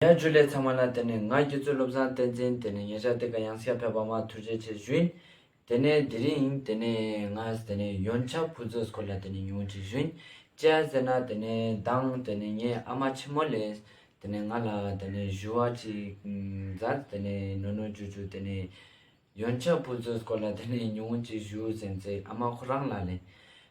ཉག་བཅུ་ལས་ཚང་མ་ན་དེ་ནས་ང་ཁྱེད་ཚོའི་བློ་བཟང་བསྟན་འཛིན་དེ་ནས་ཉེ་ཆར་དེ་ག་ཡང་སྐྱ་ཕེབས་པ་མ་ཐུག་རྗེས་ཆེ་བཞུན། དེ་ནས་དེ་རིང་དེ་ནས་ང་དེ་ནས་ཡོན་ཆབ་བུ་རྫོས་སྐོར་ལ་དེ་ནས་ཉུང་ཆེ་བཞུན། ཅེ་ཨ་ཟེར་ན་དེ་ནས་དང་དེ་ནས་ངའི་ཨ་མ་ཆེན་མོ་ལས་དེ་ནས་ང་ལ་དེ་ནས་བཞུ་བ་ཅིག་མཛད་དེ་ནས་ནོ་ནོ་ཇུ་ཇུ་དེ་ནས་ཡོན་ཆབ་བུ་རྫོས་སྐོར་ལ་དེ་ནས་ཉུང་ཅིག་བཞུ་ཟེར་ཚེ་ཨ་མ་ཁོ་རང་ལ་ལས་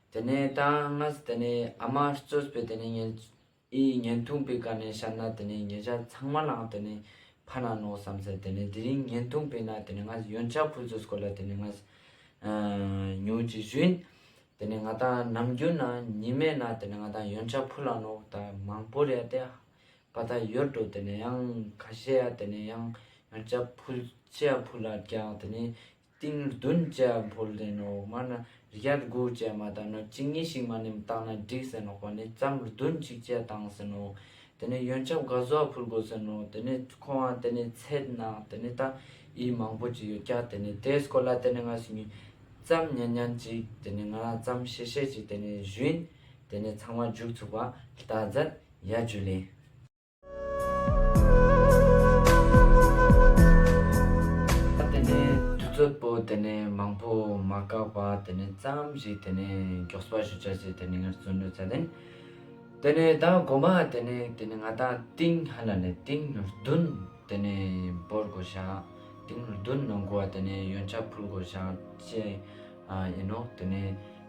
དེ་ནས་དང་ང་དེ་ནས་ཨ་མ་རྩོད་པས་དེ་ནས་ངས། ཨི་ཡིས་བརྙན་ཐུང་སྤེལ་ཀ་ནས་བཤད་ན་དེ་ནས་ངེད་ཅག་ཚང་མ་ལའང་དེ་ནས་ཕ་ན་ནོ་བསམ་ཚེ་དེ་ནས་དེ་རིང་བརྙན་ཐུང་སྤེལ་ན་དེ་ནས་ང་ཡོན་ཅག་ཕུ་ཟོས་སྐོར་ལ་དེ་ནས་ང་ཉོན་ཅིག་བཞིན་དེ་ནས་ང་དང་ནམ་རྒྱུན་ན་ཉི་མས་ན་དེ་ནས་ང་དང་ཡོན་ཅག་ཕུ་ལ་ནོ་ད་མང་པོར་ཡ་དེ་པ་ད་ཡོད་འགྲོ་དེ་ནས་ཡང་ཁ་ཤས་ཡ་དེ་ནས་ཡང་ཡོན་ཅག་ཕུ་ཅི་ཡ་ཕུ་ལ་རྒྱག་དེ་ནས་ཏིང་བདུན་བཅས་འཕོ་ལེན་ནོ། སྔར་ན་རྒྱལ་དགུ་བཅས་མ་དག་ན་གཅིག་གཉིས་ཤིག་མ་ནིམ་བཏགས་ན་འགྲིག་ཟེར་ནོག་པ་ནི་བརྩམ་བདུན་གཅིག་བཅས་བཏང་ཟེར་ནོ། དེ་ནས་ཡོན་ཆབ་ག་ཟོ་བ་ཕུལ་དགོས་ཟེར་ནོ། དེ་ནས་ཁོང་བ་དེ་ནས་ཚད་ན་དེ་ནས་ད་ཡིས་མང་པོ་ཅིག་ཡོད་ཀྱ་དེ་ནས་དེས་སྐོར་ལ་དེ་ནས་ང་སུ་ཉིད། བརྩམ་ཉན་ཉན་ཅིག་དེ་ནས་ང་བརྩམ་ཤེས་ཤེས་ཅིག་དེ་ནས་བཞུན། དེ་ནས་ཚང་མ་རྒྱུག་ཚུགས་པ་ལྟ་མཛད་ཡ་རྒྱུ་ལས། ད་དེ་ནས་དུས་ཚོད་པོ་དེ་ནས་མང་པོ་མ་བཀག་པ་དེ་ནས་ཙམ་ཞིག་དེ་ནས་མགྱོགས་པ་ཞུ་བྱ་ཞིག་དེ་ནས་ངར་བཙོན་འགྲུལ་ཚད་ལྡན། དེ་ནས་ད་སྒོ་མ་དེ་ནས་དེ་ནས་ང་ད་ཏིང་ཧ་ལ་ནས་ཏིང་ནུར་བདུན་དེ་ནས་འབོར་དགོ་ཞག་ཏིང་ནུར་བདུན་ནང་དགོ་བ་དེ་ནས་ཡོན་ཆ་ཕུལ་དགོ་ཞག་བཅས་ཨ་ཡིན་ནོ་དེ་ནས།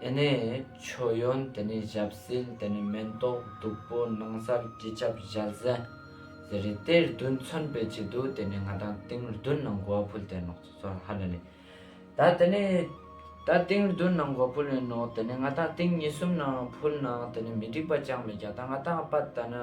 དེ་ནས་མཆོད་ཡོན་དེ་ནས་ཞབས་བསིལ་དེ་ནས་མེ་ཏོག་བདུག་པོ་ནང་སར་སྤྱི་ཁྱབ་བཞལ། བཟེ་རེ་དེ་རྡུལ་མཚོན་པའི་ཆེད་དུ་དེ་ནས་ང་དང་ཏིང་རྡུལ་ནང་གོ་བ་ཕུལ་དེ་ནོག་ཚོགས་ཚོགས་ཧ་ལས་ལས། ད་དེ་ནས་ད་ཏིང་རྡུལ་ནང་གོ་ཕུལ་ནས་ནོག་དེ་ནས་ང་དང་ཏིང་ཉི་གསུམ་ནང་ཕུལ་ནང་དེ་ནས་མི་འགྲིག་པ་ཅང་མི་རྒྱག་ད་ང་དང་པད་ད་ནི།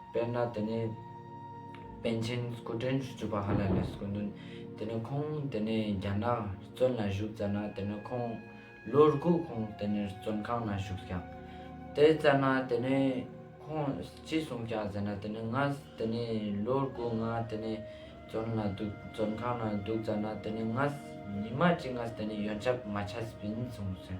དཔེར་ན་དེ་ནི་པཎ་ཆེན་སྐུ་ཕྲེང་བཅུ་བཅུ་པ་ཧ་ལ་ལས་སུ་སྐུ་འདུན། དེ་ནི་ཁོང་དེ་ནས་རྒྱ་ནག་བཙོན་ལ་བཞུགས་བཙལ་ན་དེ་ནི་ཁོང་ལོ་དགུ་ཁོང་དེ་ནས་བཙོན་ཁང་ན་བཞུགས་ཀྱང་དེ་བཙལ་ན་དེ་ནི་ཁོང་ཅི་གསུངས་ཀྱང་ཟེར་ན་དེ་ནི་ང་དེ་ནས་ལོ་དགུ་ང་དེ་ནས་བཙོན་ལ་འདུག་བཙོན་ཁང་ན་འདུག་བཙལ་ན་དེ་ནི་ང་ཉི་མ་གཅིག་ང་དེ་ནས་ཡོན་ཆབ་མ་ཆ་སྤིན་གསུངས་ཟེར།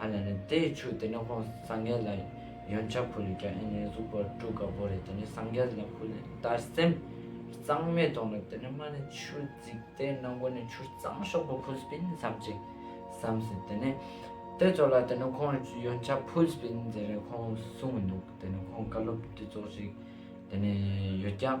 ཨ་ལས་ནི་དེ་ཡི་ཆུ་དེ་ནི་ཧོ་སངས་རྒྱས་ལ་ཡོན་ཆ་ཕུལ་ལས་ཀྱང་ཨེ་ནི་གཟུགས་པོ་སྤྲུལ་དཀར་པོ་རེ་དེ་ནི་སངས་རྒྱས་ལ་ཕུལ་ལས་དར་སེམས་གཙང་མས་དོང་ལ་དེ་ནི་མ་ནི་ཆུ་བརྫིགས་ཏེ་ནང་སྒོ་ནས་ཆུ་གཙང་ཤོག་པོ་ཕུལ་སྤིན་བསམ་ཅིག་བསམ་ཟིན་དེ་ནི་དེ་ཚོ་ལ་དེ་ནི་ཁོང་ཡོན་ཆ་ཕུལ་སྤིན་མཛད་རེ་ཁོང་གསུང་མི་འདུག་དེ་ནི་ཁོང་བཀའ་སློབ་དེ་ཚོ་ཞིག་དེ་ནི་ཡོད་ཀྱང།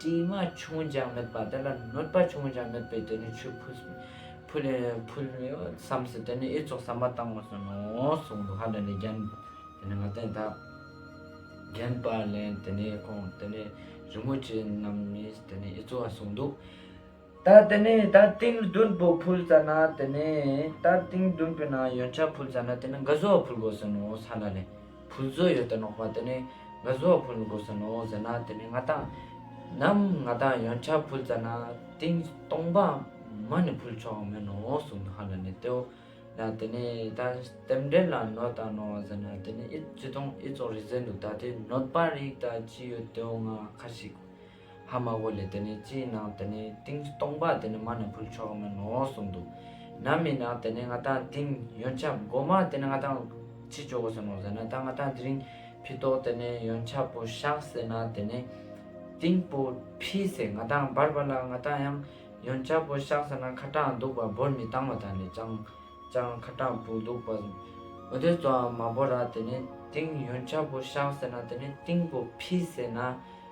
དྲི་མ་ཆུང་ཅང་མེད་པ་དེ་ལ་གནོད་པ་ཆུང་ཅང་མེད་པའི་དོན་ནི་ཆོས་ཕུལ། བསམས་སོ་དེ་ནི་ཨེ་ཚོགས་བསམ་པ་བཏང་བར་སོན་ནོ་གསུངས་འདུག་ཧ་ལས་ནས་རྒྱན། དེ་ནི་ང་བསྟན་དག། རྒྱན་སྤར་ལེན་དེ་ནི་ཁོང་དེ་ནི་རི་མོ་བྱེད་རྣམས་ནི་དེ་ནི་ཨེ་ཚོགས་གསུངས་འདུག། ད་དེ་ནས་ད་ཏིང་བདུན་པོ་ཕུལ་ཙ་ན་དེ་ནས་ད་ཏིང་བདུན་པོའི་ནང་ཡོན་ཆབ་ཕུལ་ཙ་ན་དེ་ནས་འགའ་བཟོ་བ་ཕུལ་དགོས་ཟེར་ནོ་ས་ལ་ལས་ཕུལ་བཟོ་ཡོད་དེ་ནོག་པ་དེ་ནས་འགའ་བཟོ་བ་ཕུལ་དགོས་ཟེར་ནོ་ཟེར་ན་དེ་ནས་ང་དང། ནམ་ང་དང་ཡོན་ཆབ་ཕུལ་ཙ་ན་ཏིང་སྟོང་པ་མ་ནས་ཕུལ་ཆོག་གི་མེད་ནོ་གསུང་དོ་ཧ་ལ་ནས་དེ་འོ་ན་དེ་ནས་ད་རྟེན་འབྲེལ་ལ་ནོ་ད་ནོ་བ་ཟེར་ན་དེ་ནས་ཨི་བཙུན་སྟོང་ཨི་ཙོག་རིག་ཟེར་འདུག་ད་དེ་ནོད་པ་རིག་ད་ཅི་ཡོད་དེ་འོ་ང་ཁ་ཞིག་ཧ་དམའ་བོ་ལས་དེ་ནི་སྤྱིའི་ནང་དེ་ནི་ཏིང་སྟོང་པ་དེ་ནི་མ་ནི་ཕུལ་ཆོག་མིན་ནོ་གསུངས་འདུག་ན་མི་ནག་དེ་ནི་ང་ཐང་ཏིང་ཡོན་ཆབ་སྒོ་མ་དེ་ནི་ང་ཐང་ཕྱི་ཅོ་བོ་ཟེར་ནོ་ཟེར་ན་ད་ང་ཐང་དེ་རིང་ཕི་ཏོག་དེ་ནི་ཡོན་ཆབ་པོ་ཤག་ཟེར་ན་དེ་ནི་ཏིང་པོ་ཕི་ཟེར་ང་ཐང་འབར་བ་ལ་ང་ཐང་ཡང་ཡོན་ཆབ་པོ་ཤག་ཟེར་ན་ཁ་གྲངས་འདུག་པ་འབོར་མི་བཏང་བ་དང་ནི་ཅང་ཅང་ཁ་གྲངས་བུ་འདུག་པ་འོ་དོད་ཙོའང་མ་བོ་ར་དེ་ནི་ཏིང་ཡོན་ཆབ་པོ་ཤག་ཟེར་ན་དེ་ནི་ཏིང་པོ་ཕི་ཟེར་ན།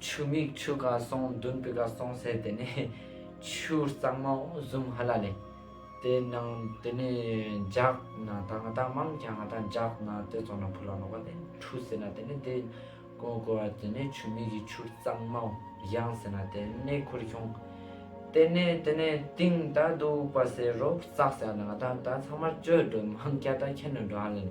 ཆུ་མིག་ཆུ་ག་སོང་མདུན་པི་ག་སོང་ཟེར་དེ་ནས་ཆུ་གཙང་མ་བཟུམ་ཧ་ལ་ལེ། དེ་ནང་དེ་ནས་འཇག་ན་ད་ང་ད་མང་གྱ་ང་ད་འཇག་ན་དེ་ཚོ་ན་ཕུ་ལ་ནོ་བ་དེ་འཁྲུ་ཟེར་ན་དེ་ནས་དེ་གོ་གོ་བ་དེ་ནས་ཆུ་མིག་གི་ཆུ་གཙང་མ་གཞང་ཟེར་ན་དེ་ནས་ཁུར་ཁྱུང། དེ་ནས་དེ་ནས་ཏིང་ད་འདུག་པ་ཟེར་རོ་བཙག་ཟེར་ན་ང་ད་ད་ཚང་མར་བཅོས་འགྲོ་མང་གྱ་ད་ཁྱེར་ནས་འགྲོ་ཧ་ལ་ལེ།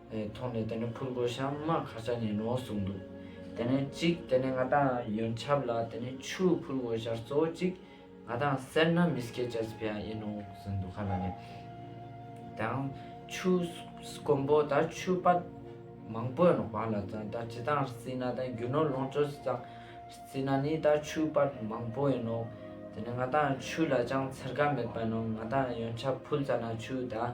ཐོག་ནས་དེ་ནི་ཕུར་བུ་ཤམ་མ་ག་ས་ནས་ནོ་གསུངས་འདུག་དེ་ནས་གཅིག་དེ་ནས་ང་དང་ཡོན་ཆབ་ལ་དེ་ནི་ཆུ་ཕུར་བུ་ཤར་གཙོ་བོ་གཅིག་ང་དང་སེར་སྣ་མི་སྐད་ཆ་སྤེ་ཡང་ཡིན་ནོ་གསུངས་འདུག་ག་ལ་ནས་དང་ཆུ་སྐོམ་པོ་ད་ཆུ་སྤ་མང་པོས་ནོ་ག་ལ་ཙང་ད་ཇི་ཙང་སྲིད་ན་དང་རྒྱུ་ནོར་ལོངས་སྤྱོད་སྲིད་ཙང་སྲིད་ན་ནི་ད་ཆུ་སྤ་མང་པོ་ཡིན་ནོ་དེ་ནས་ང་དང་ཆུ་ལ་ཅང་འཚེར་ག་མེད་པ་ནོ་ང་དང་ཡོན་ཆབ་ཕུལ་ཙ་ན་ཆུ་ད།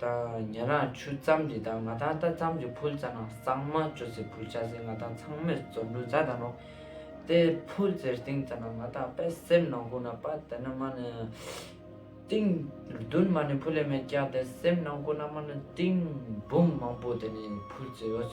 དང། ཉན་རང་ཆུ་རྩམ་དེ་དག་ང་དང་རྟ་རྩམ་གྱི་ཕུལ་རྩ་ནང་གཙང་མ་བཅོ་བསྲེས་ཕུལ་བྱ་ཟེར་ང་དང་ཚང་མེར་བཙོ་འགྲུལ་རྩ་དང་རོ། རྟའི་ཕུལ་རྩེར་སྟེང་རྩ་ནང་ང་དང་པད་སེར་ནང་ཁུང་ན་པད་དེ་ནི་མ་ནི། སྟེང། བདུན་མ་ནི་ཕུལ་ལས་མེད་སྐྱ་དེ་སེམས་ནང་ཁུང་ན་མ་ནི་སྟེང། འབུམ་མང་པོ་དེ་ནི་ཕུལ་རྩེ་ཡོད།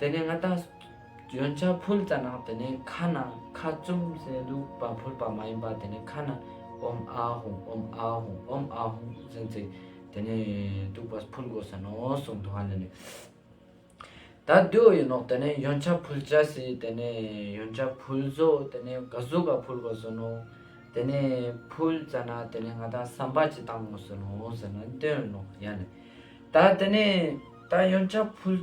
དེ་ནས་ང་ད་ཡོན་ཆ་ཕུལ་རྩ་ནང་དེ་ནས་ཁ་ནང་ཁ་བཙུམ་ཟེ་འདུག་པ་ཕུལ་པ་མ་ཡིན་པ་དེ་ནས་ཁ་ནང་ཨོམ་ཨ་ཧོང་ཨོམ་ཨ་ཧོང་ཨོམ་ཨ་ཧོང་ཟེ་ཚེ་དེ་ནས་འདུག་པ་ཕུལ་དགོས་ཟེ་ནོ་གསུང་དུ་ཧ་ལས་ནས་ད་བསྡུས་ཡོད་ནོག་དེ་ནས་ཡོན་ཆ་ཕུལ་བྱ་ཟེ་དེ་ནས་ཡོན་ཆ་ཕུལ་བཟོ་དེ་ནས་ག་ཟུ་ག་ཕུལ་དགོས་ཟེ་ནོ་དེ་ནས་ཕུལ་རྩ་ན་དེ་ནས་ང་ད་བསམ་པ་ཅི་བཏང་ངོ་ཟེ་ནོ་ཟེ་ན་འདོན་ནོག་ཡ་ལས་ད་དེ་ནས་ད་ཡོན་ཆ་ཕུལ།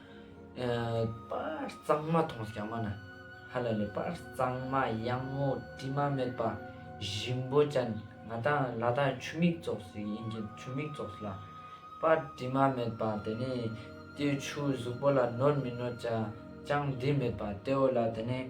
པར་གཙང་མ་མཐོང་སྐྱ་མ་ན་ཧ་ལ་ལས་པར་གཙང་མ་གཡང་ངོ་དྲི་མ་མེད་པ་བཞིན་པོ་ཅན་ང་དང་ལ་དྭགས་ཆུ་མིག་བཙོག་ཟིག་ཡིན་གྱི་ཆུ་མིག་བཙོག་ཟིག་ལ་པར་དྲི་མ་མེད་པ་དེ་ནས་ཏེའུ་ཆུའི་གཟུགས་པོ་ལ་ནོར་མི་ནོར་ཅང་འདི་མེད་པ་ཏེའུ་ལ་དེ་ནས།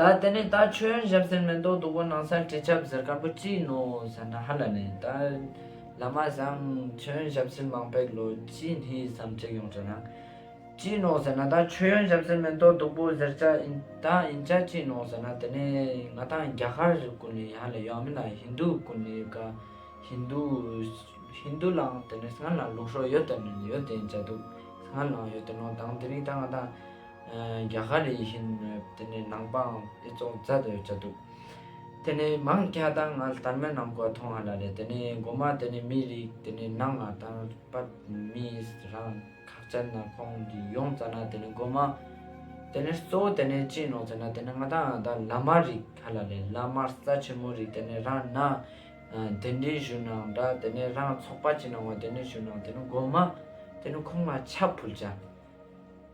ད་དེ་ནས་ད་ཁྱོད་ཞབས་ཟེར་མེ་ཏོག་དུག་པོ་ནང་སར་དྲི་ཆབ་ཟེར་དཀར་པོ་ཅི་ཡིན་ནོ་ཟེར་ན་ཧ་ལ་ནས་ད་ལ་མ་བཟང་ཁྱོད་ཞབས་ཟེར་མང་པའི་ལོ་ཅི་ནི་བསམ་ཁྲེགས་ཡོང་དྲན་ན་ཅི་ཡིན་ནོ་ཟེར་ན་ད་ཁྱོད་ཞབས་ཟེར་མེ་ཏོག་དུག་པོ་ཟེར་ཆ་ད་ཨིན་ཆ་ཅི་ཡིན་ནོ་ཟེར་ན་དེ་ནས་ང་ད་རྒྱ་གར་ཀུན་ནས་ཧ་ལས་ཡང་མིན་ན་ཧིན་དུ་ཀུན་ནས་ག་ཧིན་དུ་ཧིན་དུ་ལའང་དེ་ནས་སྔར་ལའང་ལུགས་སྲོག་ཡོད་དེ་ནོ་ཡོད་དེ་ཨིན་ཆ་དུག་སྔར་ལའང་ཡོད་དེ་ནོ་དང་དེ་རིང་ད་ང་ད། རྒྱ་གར་ཡིན་ཕྱིན་དེ་ནས་ནང་པའང་ཨི་ཙོང་རྩལ་དུ་ཡོད་ཚོད་འདུག། དེ་ནས་མང་སྐྱ་དང་ངལ་དར་མའི་ནང་གོ་མཐོང་ང་ལ་རེད་དེ་ནས་འགོ་མ་དེ་ནས་མིའི་རིགས་དེ་ནས་ནང་ང་དང་པར་མིས་རང་ཁག་ཅན་ན་ཁོང་གི་ཡོང་ཙ་ན་དེ་ནས་འགོ་མ། དེ་ནས་གཙོ་བོ་དེ་ནས་ཅིན་ནོ་ཙེ་ན་དེ་ནས་ང་དང་ང་དང་བླ་མ་རིགས་ཁ་ལ་རེད་བླ་མར་རྩ་ཆེན་མོ་རིགས་དེ་ནས་རང་ནང་དེ་འདྲའི་བཞུགས་ནང་འདྲ་དེ་ནས་རང་ཚོགས་པ་ཅི་ནང་བ་དེ་ནས་བཞུགས་ནང་དེ་ནས་འགོ་མ། དེ་ནས་ཁོང་ང་ཆ་ཕུལ་ཅ།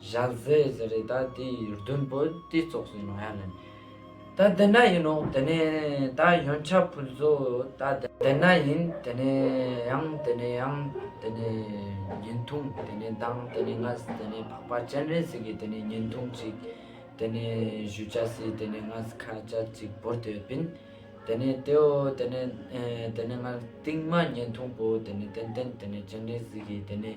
བཞག་མཛད་ཟེར་རེད་ད་དེ་ཡི་བདུན་པོ་དེ་ཙོག་ཟེར་ནོ་ཡ་ལན། ད་དེ་ན་ཡིན་ནོ་དེ་ནས་ད་ཡོན་ཆབ་ཕུལ་བཟོ་ད་དེ་ན་ཡིན་དེ་ནས་ཡང་དེ་ནས་ཡང་དེ་ནས་ཉིན་ཐུང་དེ་ནས་མདང་དེ་ནས་ངྷ་སི་དེ་ནས་འཕགས་པ་སྤྱན་རས་གཟིགས་ཀྱི་དེ་ནས་ཉིན་ཐུང་ཅིག་དེ་ནས་བཞུ་བྱ་སྲིད་དེ་ནས་ངྷ་སི་ཁ་བྱ་ཅིག་བོར་དེ་བིན་དེ་ནས་དེའོ་དེ་ནས་དེ་ནས་ངྷ་སི་ཏིང་མ་ཉིན་ཐུང་པོ་དེ་ནས་ཏན་ཏན་དེ་ནས་སྤྱན་རས་གཟིགས་ཀྱི་དེ་ནས་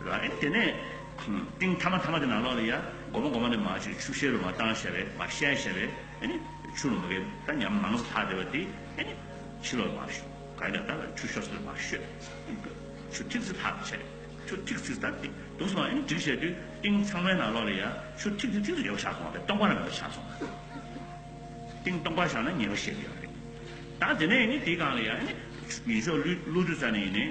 རེད། དེ་ནས། ཏིང་ཐ་མ་ཐ་མ་དེ་ནང་ལོགས་ལ་ཡ། སྒོ་མ་སྒོ་མ་ནས་མ་བྱོས་ཆུ་བཤལ་རུ་མ་བཏང་བཤལ་བས་མ་བཤལ་བཤལ་བས། ཆུ་རུ་མ་བསྐྱལ་ད་ཉམས་མང་ས་ལྷག་བསྡད་པ་དེ། ཕྱི་ལོགས་ལ་མ་བཤོ། ག་རེ་ལ་ད་ཆུ་བཤོ་ས་ལ་མ་བཤོས། ཆུ་ཐིག་ཚིག་ལྷག་བྱས། ཆུ་ཐིག་ཚིག་ད་ཏིང་དུང་སོང་བ་འདྲིག་བྱས་དུས་ཏིང་ཚང་མའི་ནང་ལོགས་ལ་ཡ། ཆུ་ཐིག་ཚིག་ཐིག་ཚིག་ཡོད་པ་ཆགས་སོང་བ་དེ་སྟོང་པ་ན་མེད་པ་ཆགས་སོང། ཏིང་སྟོང་པ་ཆགས་ན་ཉེས་པ་བཤད་ཀྱི་ཡོད་རེད། ད་དེ་ནས་ཡིན་ནས་དེའི་སྒང་ལ་ཡ། ཡིན་ཤོག་ཀླུ་བདུད་རྩ་ནས་ཡིན་ནས།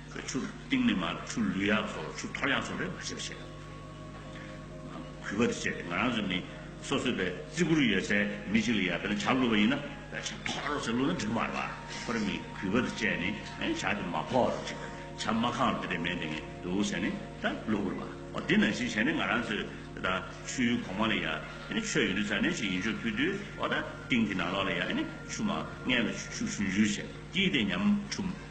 ཁོས་ཆུ་གཏིང་ནས་མ་གཏོགས་ཆུ་ལུད་ཡག་ཚོ་ཆུ་འཐོར་ཡག་ཚོ་རེད་མ་བྱེད་པ་བྱེད། གུས་པ་དེ་བྱེད་དེ་ང་རང་ཚོ་ནི་སོ་སོས་བེ་བརྩི་བཀུར་ཡོད་ཚད་མི་གཅིག་ལ་ཡར་བེ་ན་བྱ་བླུད་པ་ཡིན་ན་བེ་བྱ་འཐོར་རོགས་ཟེར་བླུད་ན་འགྲིག་མ་རེད་པ་ཁོ་རེ་མི་གུས་པ་དེ་བྱེད་ནི་བྱ་དེ་མ་ཕོག་རོགས་བྱེད་བྱ་མ་ཁང་རོགས་དེ་རེ་མེད་དེ་ངས་འདུག་ཟེར་ནི་ད་བླུད་དགོས་རེད་པ་འོ་དེ་ནང་བཞིན་བྱས་ནི་ང་རང་ཚོས་དེ་ད་ཆུའི་གོང་མ་ལ་ཡར་བེ་ནི་ཆོས་ཡོད་དུས་ཚར་ནས་ཆུ་ཡིན་ཆོག་ཕུལ་དུས་འོ་ད་གཏིང་དེ་ནང་ལོགས་ལ་ཡར་བེ་ནི་ཆུ་མ་ངས་ལ་ཆུ་ཆུ་ཆུ་ཆུ་བྱས་ཀྱིས་དེ་ཉམས་ཁྲུམས།